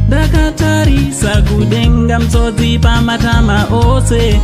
ndakatarisa kudenga mtsodzi pamatama ose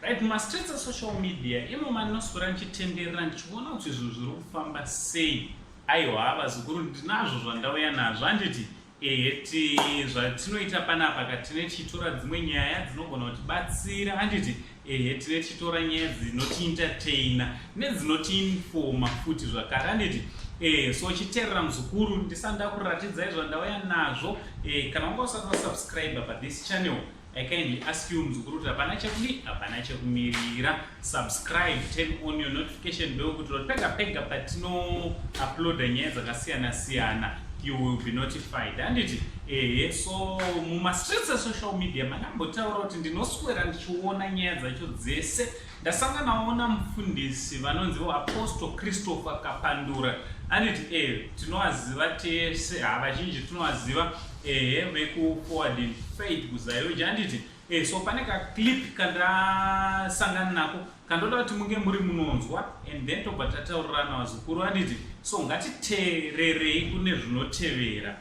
right mumastreets esocial media imo mandinoswera ndichitenderera ndichiona kuti zvinhu zviri kufamba sei aiwa vazukuru ndinazvo zvandauya nazvo handiti Ehe ti zvatinoita panapa ka tine tichitora dzimwe nyaya dzinogona kutibatsira handiti ehe tine tichitora nyaya dzinotiintertaina nedzinotiinfoma futi zvakare handiti e so chiterera muzukuru ndisanda kuratidzai zvandauya nazvo e kana unga usati wasubscribe pa this channel I kindly ask you mzukuru kuti hapana chekudi hapana chekumirira subscribe turn on your notification bell kuti pega pega patino uploada nyaya dzakasiyana siyana you will be notified handiti ehe so mumastreets esocial media manambotaura kuti ndinoswera ndichiona nyaya dzacho dzese Ndasanganawo namufundisi vanonziwo Apostle Christopher Kapandura aniti eh tinowaziva tese ha vazhinji tinowaziva ehe vekuforward in faith kuzayoji anditi eh so pane kaclip kandasangana nako kandoda kuti munge muri munonzwa and then tobva tataurirana vazukuru anditi so ngatiteererei kune zvinotevera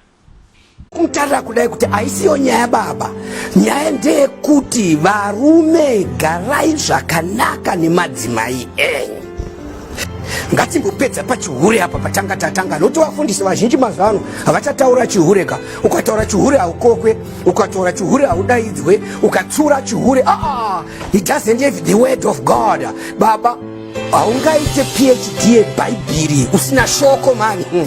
Mtara kudai kuti aisiyo nyaya baba, nyaya ndeyekuti varume garai zvakanaka nemadzimai enyu. Ngatimbopedza pachihure apa patanga tatanga, nokuti vafundisi vazhinji mazuva ano havachataura chihure ka. Ukataura chihure haukokwe, ukataura chihure haudaidzwe, ukatsura chihure ah, ah, it doesn't have the word of God baba. Haungaite PhD yebhaibhiri usina shoko mani. Hmm.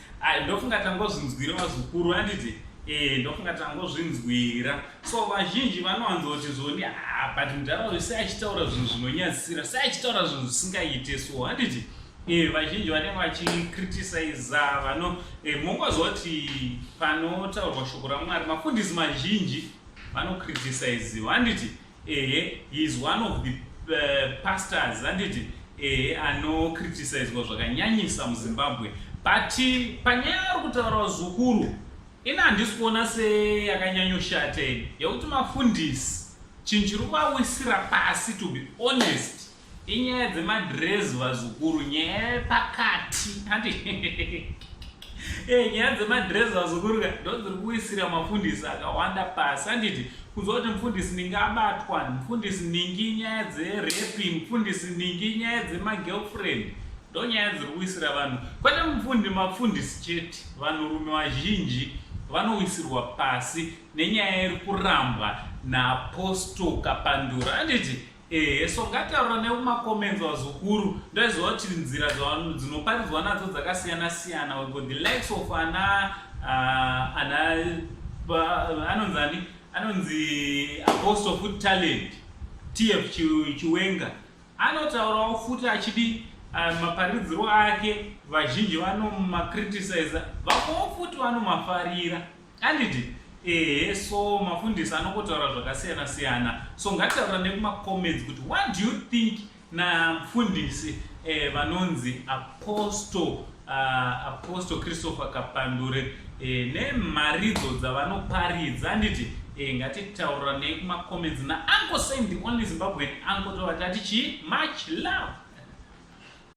Ai ndofunga tangozvinzwira vazukuru anditi eh ndofunga tangozvinzwira so vazhinji vanowanzoti zvoni ah but mudhara uyu sei achitaura zvinhu zvinonyadzisira sei achitaura zvinhu zvisingaite so handiti eh vazhinji vanenge vachicriticiza vano eh, mongozwa kuti panotaurwa shoko ramwari mafundisi mazhinji vanocriticiziwa handiti Ehe, he is one of the uh, pastors anditi ehe anokritisizwa zvakanyanyisa muzimbabwe but panyaya yari kutaura zukuru ini handisi kuona seyakanyanyoshata ini yekuti mafundisi chinhu chiri kuvawisira pasi to be honest Inyaya dzemadress vazukuru nyaya yepakati ati eh, nyaya dzemadress vazukuru ka ndodziri kuwisira mafundisi akawanda pasi anditi kunzwa kuti mufundisi ningi abatwa mufundisi ningi nyaya dzerepi mufundisi ningi nyaya dzemagirlfriend ndo nyaya dziri kuwisira vanhu kwete mufundi mafundisi chete vanhurume vazhinji vanowisirwa pasi nenyaya iri kurambwa naaposto kapandura anditi Ehe so ngataura nekumacomments vazukuru ndaiziva kuti nzira dzinoparidzwa nadzo dzakasiyana siyana wego the likes of ana uh, ana anonzi ani anonzi apostle food talent tf chiwenga anotaurawo futi achidi uh, maparidziro ake vazhinji vanomacriticiza vakowo futi vanomafarira Handiti ehe so mafundisi anongotaura zvakasiyana siyana so ngataura nekumacomments kuti what do you think namfundisi eh, vanonzi apostle uh, apostle christopher kapandure eh, nemharidzo dzavanoparidza handiti eh, ngatitaura nei kumacomments naanko sain the only zimbabwean anko tovati ati chii much love